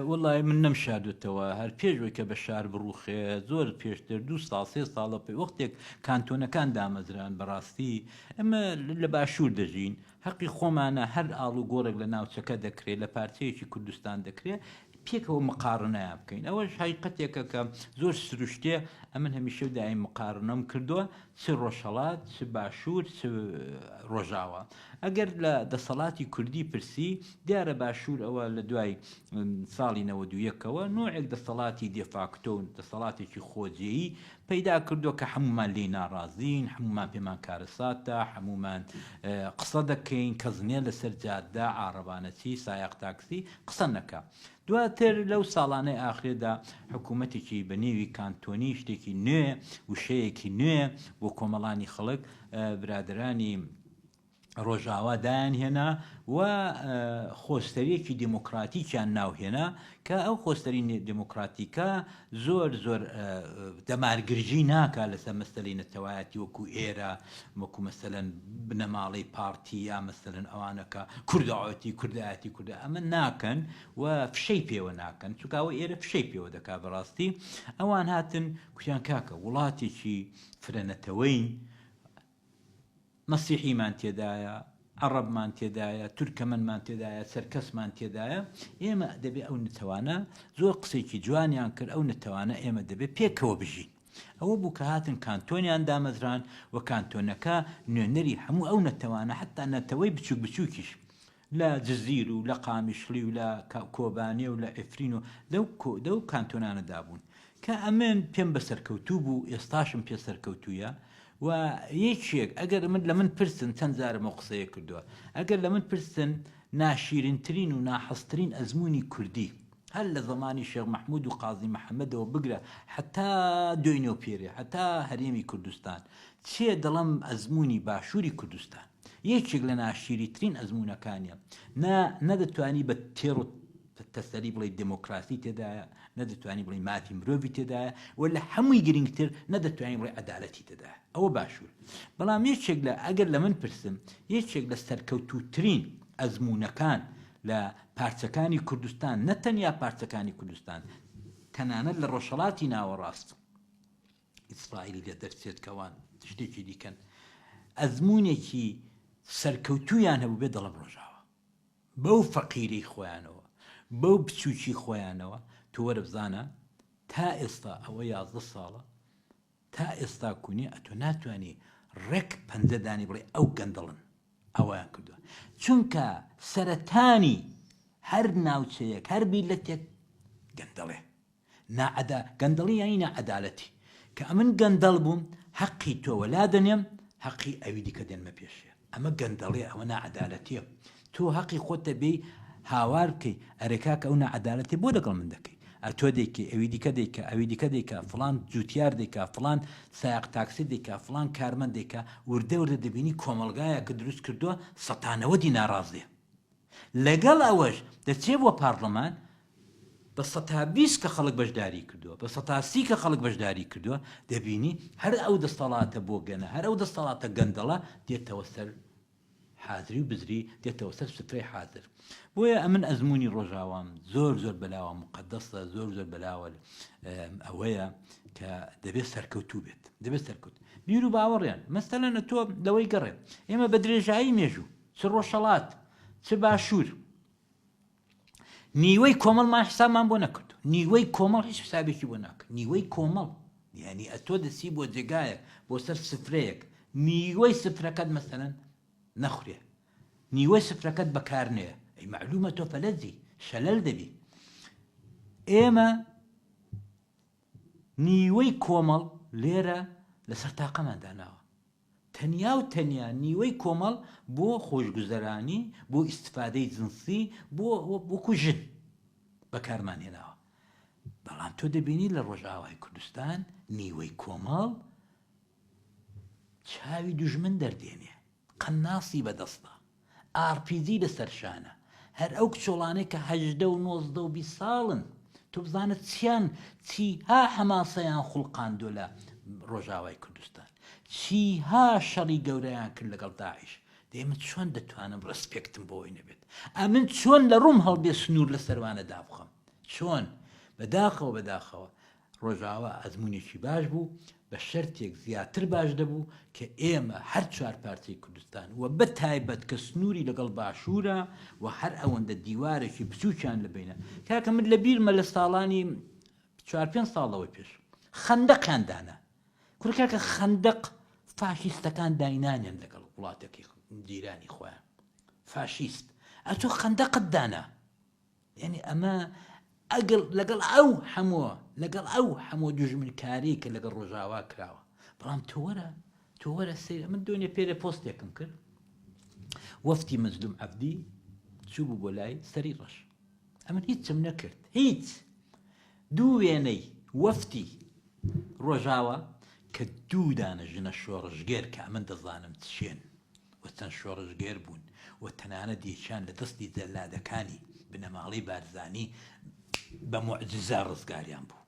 وەڵا من نەم شاردوتەوە هەر پێش ئەوەی کە بە شار بڕوخێ زۆر پێشتر دو ساڵ سێ ساڵە پێ وەختێک کانتۆنەکان دامەزران بەڕاستی ئەمە لە باشوور دەژین هەقی خۆمانە هەر ئاڵ و گۆڕێک لە ناوچەکە دەکرێت لە پارچەیەکی کوردستان دەکرێت پێکەوە مقارنەیان بکەین ئەوەش حیقەتێکە کە زۆر سروشتێ ئەمن هەمیشە دایم مقارنەم کردووە چ ڕۆژهەڵات چ باشوور چ ڕۆژاوا ئەگەر لە دەسەڵاتی کوردی پرسی دیارە باشوور ئەوە لە دوای ساڵی نەوەد و یەک ەوە نۆعێک دەسەڵاتی دێفاکتۆ و دەسەڵاتێکی خۆجێیی پەیدا کردووە کە حەمومان لێی ناڕازین حەمومان پێمان کارەساتە حەمومان قسە دەکەین کەس نیە لەسەر جادە عاڕەبانەچی سایەق تاکسی قسە نەکا دواتر لەو ساڵانەی ئاخرێدا حکوومەتێکی بە نێوی کانتۆنی شتێکی نوێ وشەیەکی نوێ بۆ کۆمەڵانی خەڵک برادرانی ڕۆژاوا دایان هێنا و خۆستەریەکی دموکراتیکیان ناوهێنا کە ئەو خۆستەری دموکراتیکە زۆر زۆر دەمار گرژی ناکا لەسەر مەسەلەی نەتەوایەتی وەکو ئێرە وەکو مەسەلەن بنەماڵەی پارتی یا مەسەلەن ئەوانەکە کوردەوەتی کوردایەتی کوردە ئەمە ناکەن و فشەی پێوە ناکەن چکاوە ئێرە فشەی پێوە دەکا بەڕاستی ئەوان هاتن کوتیان کاکە وڵاتێکی فرەنەتەوەین مەسیحیمان تێدایە، عەڕەبمان تێدایە، تورکەمەنمان تێدایە، چەرکەسمان تێدایە، ئێمە دەبێ ئەو نەتەوانە، زۆر قسەیەکی جوانیان کرد، ئەو نەتەوانە ئێمە دەبێ پێکەوە بژین. ئەوە بوو کە هاتن کانتۆنیان دامەزراند و کانتۆنەکە نوێنەری هەموو ئەو نەتەوانە حەتتا نەتەوەی بچووک بچووکیش، لە جزیر و لە قامیشڵی و لە کۆبانێ و لە عفرین و لەو کانتۆنانەدا بوون کە ئەمن پێم بە سەرکەوتوو بوو، ئێستاشم پێ سەرکەوتوویە و یەکێک ئەگەر من لە من پرسن چەند جارم ئەو قسەیە کردووە، ئەگەر لە من پرسن ناشیرنترین و ناحەزترین ئەزموونی کوردی هەر لە زەمانی شێخ مەحموود و قازی محەمەدەوە بگرە هەتا دوێنێ و پێرێ هەتا هەرێمی کوردستان چییە دەڵێم ئەزموونی باشووری کوردستان. یەکێک لە ناشیریترین ئەزموونەکانیە، نا، نا دەتوانی بە تێڕ و تەسەلی بڵێی دێمۆکڕاسی تێدایە، نا دەتوانی بڵێی مافی مرۆڤی تێدایە و لە هەمووی گرینگتر نا دەتوانی بڵێی عەدالەتی تێدایە. ئەوە باشوور. بەڵام یەکێک لە، ئەگەر لە من پرسم، یەکێک لە سەرکەوتووترین ئەزموونەکان لە پارچەکانی کوردستان، نە تەنیا پارچەکانی کوردستان، تەنانەت لە ڕۆژهەڵاتی ناوەڕاست، ئیسرائیلی لێ دەرچێت کە ئەوان شتێکی دیکەن ئەزمونێکی سەرکەوتویان هەبوو بێ دەڵم ڕۆژاوە بەو فەقیری خۆیانەوە بەو بچوکی خۆیانەوە تو وەرەبزانە تا ئێستا ئەوە یازدە ساڵە تا ئێستا کونێ ئەتۆ ناتوانانی ڕێک پەنجەدانی بڵێ ئەو گەندەڵن ئەویان کردووە چونکە سەرەتانی هەر ناوچەیەک هەر بیلەتێک گەندەڵێ ناعەدا گەندەڵی یانی ناعەدالەتی کە ئەمن گەندەڵ بووم هەقی تۆ وەلا دەنێم هەقی ئەوی دیکە دێنمە پێشێ ئەمە گەندەڵیە ئەوە ناعەدالەتیە تۆ هەقی خۆتە بێی هاوار بکەی ئەرێ کاکە ئەو ناعەدالەتیە بۆ لەگەڵ من دەکەی ئەتۆ دەیکەی ئەوی دیکە دەیکا ئەوی دیکە دەیکا فڵان جوتیار دەیکا فڵان سایەق تاکسی دەیکا فڵان کارمەند دەیکا وردە وردە دەبینی کۆمەڵگایەکت دروست کردووە سەتا نەوەدی ناڕازیە لەگەڵ ئەوەش دەچێت بۆ پارلمان بە سەتا بیست کە خەڵک بەشداری کردووە، بە سەتا سی کە خەڵک بەشداری کردووە، دەبینی هەر ئەو دەستەڵاتە بۆگەنە، هەر ئەو دەستەڵاتە گەندەڵە دێتەوە سەر حازری و بزری، دێتەوە سەر سفرەی حازر. بۆیە ئەمن ئەزموونی ڕۆژاوام زۆر زۆر بەلاوە موقەدەسە، زۆر زۆر بەلاوە ئەوەیە کە دەبێت سەرکەوتوو بێت، دەبێت سەرکەوت. بیرو باوەڕیان مەسەلەنە تۆ لەوەی گەڕێ ئێمە بە درێژایی مێژوو، چ ڕۆژهەڵات چ باشوور نیوەی کۆمەڵمان حسابمان بۆ نەکردو نیوەی کۆمەڵ هیچ حسابێکی بۆ ناکە نیوەی کۆمەڵ یعنی ئەتۆ دەچی بۆ جێگایەک بۆ سەر سفرەیەک نیوەی سفرەکەت مەسەن نەخورێ نیوەی سفرەکەت بەکارنەیە ئەی معلومە تۆ فەلەجی شەلەل دەبی ئێمە نیوەی کۆمەڵ لێرە لەسەر تاقەمان داناوە تەنیا و تەنیا نیوەی کۆمەڵ بۆ خۆشگوزەرانی، بۆ ئیستفادەی جنسی، بۆ وەکو ژن بەکارمان هێناوە. بەڵام تۆ دەبینی لە ڕۆژئاوای کوردستان نیوەی کۆمەڵ چاوی دوژمن دەردێنێ، قەناسی بەدەستە. ئارپیجی لەسەر شانە هەر ئەو کچۆڵانەی کە هەژدە و نۆزدە و بیست ساڵن تۆ بزانە چیان چیها حەماسەیان خوڵقاندوە لە ڕۆژاوای کوردستان چیها شەڕی گەورەیان کرد لەگەڵ داعش دەی من چۆن دەتوانم ڕسپێکتم بۆی نەبێت ئەمن چۆن لە ڕوم هەڵدێ سنوور لە سەروانە دابخەم چۆن بەداخەوە بەداخەوە ڕۆژاوا ئەزموونێکی باش بوو، بە شەرتێک زیاتر باش دەبوو کە ئێمە هەر چوار پارچەی کوردستان و بە تایبەت کە سنووری لەگەڵ باشوورە و هەر ئەوەندە دیوارێکی بچووکیان لە بەینە. کاکە من لە بیرمە لە ساڵانی چوار پێنج ساڵ لەوەی پێش خەندەقیان دانا. کورە کاکە خەندەق فاشیستەکان داینانیان لەگەڵ وڵاتەکەی جیرانی خۆیان. فاشیست ئەتۆ خەندەقت دانا. یەنی ئەمە ئەگەڵ لەگەڵ ئەو هەمۆ لەگەڵ ئەو هەمۆ دوژمنکاری کە لەگەڵ ڕۆژاوا کراوە بەڵام تۆوەرە تۆوەرە سەیر من دۆنێ پێرە پۆستێکم کرد وەفتی مەزلوم عەبدی چوو بوو بۆ لای سەری ڕەش ئەمن هیچم نەکرد هیچ دوو وێنەی وەفتی ڕۆژاوە کە دوو دانە ژنە شۆڕژگەر کە ئەمن دەزانم چێن و چەند شۆڕشگێر بوون و تەنانەت یەکیان لە دەستی جەلادەکانی بنەماڵەی بارزانی بە موعجیزە ڕزگاریان بوو.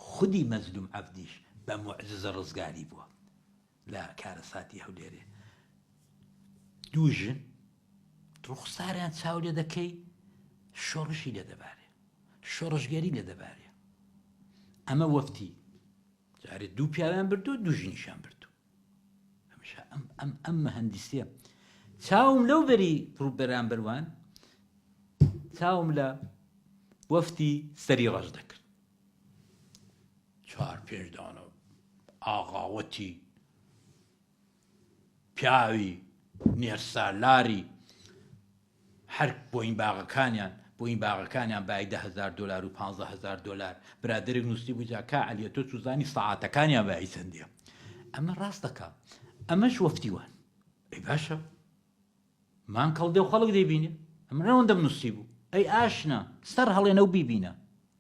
خودی مەزلوم عەبدیش بە موعجیزە ڕزگاری بووە لە کارەساتی هەولێرێ. دوو ژن ڕوخساریان چاو لێ دەکەی شۆڕشی لێ دەبارێ. شۆڕشگێری لێ دەبارێ. ئەمە وەفتی جارێ دوو پیاویان بردو دوو ژنیشان بردو. هەمیشە ئەم ئەم ئەم مەهەندیسیە چاوم لەو بەری ڕوو بەرامبەروان چاوم لە وەفتی سەری ڕەش دەکرد چوار پێش دانەوە ئاغاوەتی پیاوی نێرسالاری هەر بۆین باغەکانیان بۆین باغەکانیان بای دە هەزار دۆلار و پانزە هەزار دۆلار برادەرێک نووسی بوو جا کا عەلیە تۆ چوزانی سەعاتەکانیان بای چەندیە ئەمە ڕاست دەکا ئەمەش وەفتی وان ئەی باشە مان کەڵدێ و خەڵک دەیبینێ ئەمرەوەندەم نووسی بوو ئەی ئاشنا سەر هەڵێنە و بیبینە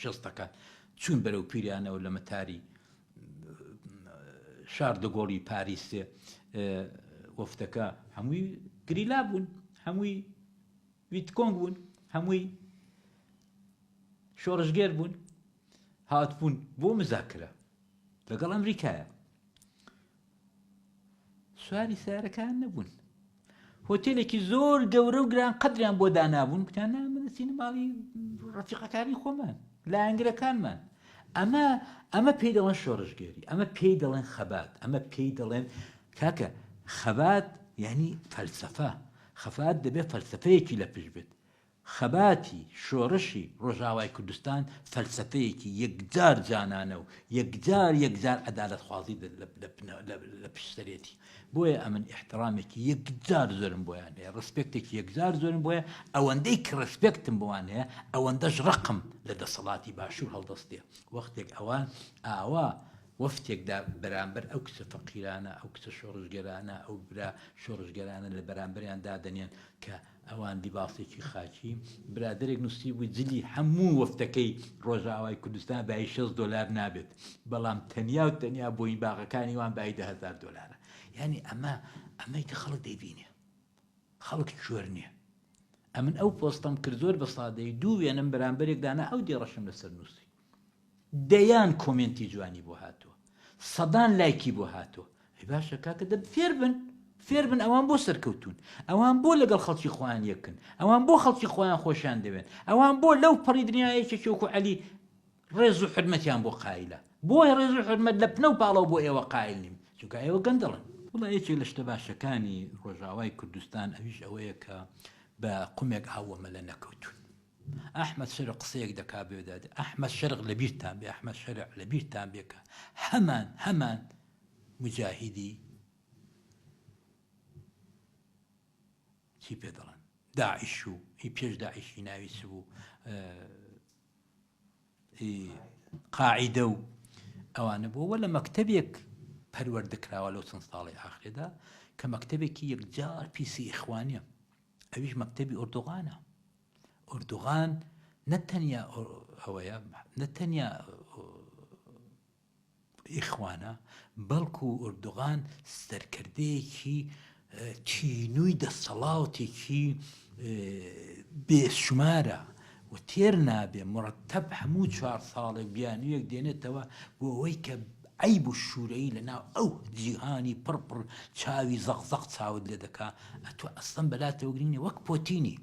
شەستەکان چوون بەرەو پیرانەوە لە مەتاری شار دەگۆڵی پاریسێ وەفتەکە هەمووی گریلا بوون هەمووی ویتکۆنگ بوون هەمووی شۆڕژگێر بوون هاتبوون بۆ مزاکرە لەگەڵ ئەمریکایە سواری سارەکان نەبوون هۆتێلێکی زۆر گەورە و گران قدریان بۆ دانابوون گوتان نامەدەچینە ماڵی ڕفیقەکانی خۆمان لایەنگرەکانمان ئەمە ئەمە پێی دەڵێن شۆڕشگێری ئەمە پێی دەڵێن خەبات ئەمە پێی دەڵێن کاکە خەبات یعنی فەلسفە خەفات دەبێت فەلسفەیەکی لە پشت بێت خەباتی شۆڕشی ڕۆژئاوای کوردستان فەلسەفەیەکی یەکجار جانانە و یەکجار یەکجار عەدالەتخوازی لە پشت سەرێتی، بۆیە ئەمن ئیحتڕامێکی یەکجار زۆرم بۆیان هەیە، ڕێسپێکتێکی یەکجار زۆرم بۆیە، ئەوەندەی کە ڕێسپێکتم بۆان هەیە ئەوەندەش ڕقم لە دەسەڵاتی باشوور هەڵدەستێ، وەختێک ئەوان ئاوا وەفتێکدا بەرامبەر ئەو کچە فەقیرانە، ئەو کچە شۆڕشگێرانە، ئەو برا شۆڕشگێرانە لە بەرامبەریان دادەنێن کە ئەوان لیباسێکی خاکی. برادەرێک نووسیبووی جلی هەموو وەفتەکەی ڕۆژئاوای کوردستان بایی شەست دۆلار نابێت، بەڵام تەنیا و تەنیا بۆینی باغەکانی وان بایی دە هەزار دۆلارە. یانی ئەمە ئەمەی کە خەڵک دەیبینێ. خەڵک کۆر نییە. ئەمن ئەو پۆستەم کرد زۆر بە سادەیی دوو وێنەم بەرامبەرێک دانا ئەو دێڕەشم لەسەر نووسی. دەیان کۆمێنتی جوانی بۆ هاتوە سەدان لایکی بۆ هاتوە ئەی باشە کاکە دەب فێربن فێربن ئەوان بۆ سەرکەوتون ئەوان بۆ لەگەڵ خەڵکی خۆیان یەکن ئەوان بۆ خەڵکی خۆیان خۆشیان دەوێن ئەوان بۆ لەو پەڕی دنیایەکی چۆکو عەلی ڕێز و حرمەتیان بۆ قایلە بۆی ڕێز و حرمەت لە پنە و پاڵەوە بۆ ئێوە قایل نیم چونکە ئێوە گەندەڵن وڵا یەکێک لە شتە باشەکانی ڕۆژاوای کوردستان ئەویش ئەوەیە کە بە قومێک ئاوەمە لە نەکەوتون ئەحمەد شەرع قسەیەک دەکات بە وێدات ئەحمەد شەرع لەبیرتان بێ ئەحمەد شەرع لەبیرتان بێ کە هەمان هەمان مجاهیدی چی پێ دەڵێن داعش و هی پێش داعشی ناوی چ بوو قاعدە و ئەوانە بۆوە لە مەکتتەبێک پەروەەر دەکراوە لەو چەند ساڵی ئاخرێدا کە مەکتتەبێکی یەکجار پیسی ئیخوانە ئەویش مەکتتەبی ئۆردوغانە ئوردوغان نە تەنیا ئەوەیە نە تەنیا ئیخوانە بەڵکو ئوردوغان سەرکردەیەکی تینووی دەسەڵاوتێکی بێشمارە و تێر نابێ مڕتەب هەموو چوار ساڵێک بیانویەک دێنێتەوە بۆ ئەوەی کە عەیب و شورەیی لە ناو ئەو جیهانی پڕ پڕ چاوی زەق زەق چاوت لێ دەکا ئەتۆ ئەسڵەن بەلاتەوە گرینگ نیە وەک پۆتینی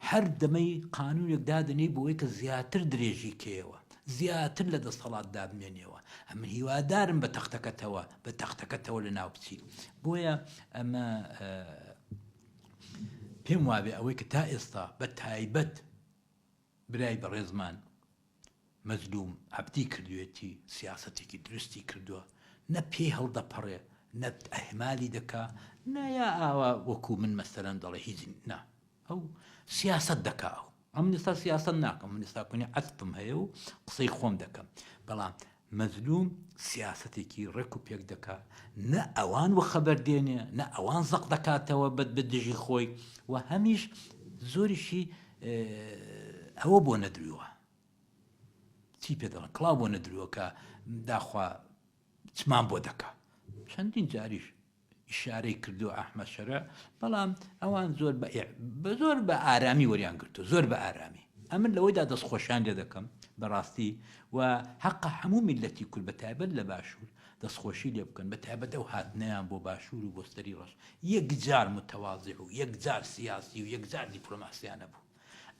هەر دەمەی قانونێک دادەنێی بۆوەی کە زیاتر درێژی کەیەوە زیاتر لە دەستەڵات دابمێنێەوە ئەمن هیوادارم بە تەختەکەتەوە بە تەختەکەتەوە لە ناو بچی بۆیە ئەمە پێم وابێ ئەوەی کە تا ئێستا بە تایبەت برای بەڕێزمان مەزلوم عەبدی کردوێتی سیاسەتێکی دروستی کردوە نە پێی هەڵدەپەڕێ نە ئهمالی دەکا نە یا ئاوا وەکو من مەسەلەن دەڵێ هیچ نا ئەو سیاسەت دەکا ئەو ئەمن ئێستا سیاسەت ناکەم من ئێستا کونی عەسپم هەیە و قسەی خۆم دەکەم بەڵام مەزلوم سیاسەتێکی ڕێک و پێک دەکا نە ئەوان وەخەبەر دێنێ نە ئەوان زەق دەکاتەوە بە دژی خۆی و هەمیش زۆریشی ئەوە بۆ نەدرووە چی پێ دەڵن کڵاو بۆ نەدرووە کە داخوا چمان بۆ دەکا چەندین جاریش ئیشارەی کردوە ئەحمەد شەرع، بەڵام ئەوان زۆر بە بە زۆر بە ئارامی وەریان گرتوە زۆر بە ئارامی. ئەمن لەوەیدا دەست خۆشیان لێ دەکەم بەڕاستی و هەقە هەموو میللەتی کورد بە تایبەت لە باشوور دەست خۆشی لێ بکەن بە تایبەت ئەو هاتنەیان بۆ باشوور و بۆ سەری ڕەش یەک جار متەوازع و یەک جار سیاسی و یەک جار دیپلۆماسیانە بوو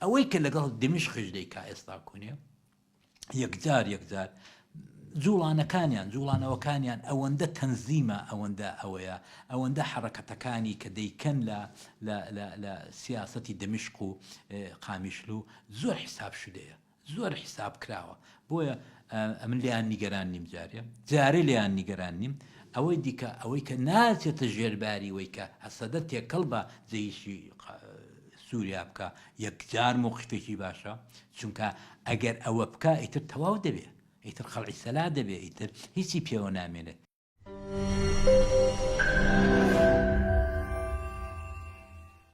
ئەوەی کە لەگەڵ دمشقش دەیکا ئێستا کونێ یەکجار یەکجار جوڵانەکانیان جوڵانەوەکانیان ئەوەندە تەنزیمە ئەوەندە ئەوەیە ئەوەندە حرەکەتەکانی کە دەیکەن لە لە سیاستی دەمشق و قامیشل و زۆر حساب شدەیە زۆر حساب کراوە بۆیە ئەمن لیان نیگەران نیم جارێ جارێ لیان نیگەران نیم ئەوەی دیکە ئەوەی کە ناچێتە ژێرباری وەی کە هەسەدە تێکەڵ بە جێیشی سوریا بکا یەکجار موقیفێکی باشە چونکە ئەگەر ئەوە بکا ئیتر تەواو دەبێ ئیتر قەڵعی سەلا دەبێ ئیتر هیچی پێوە نامێنێت.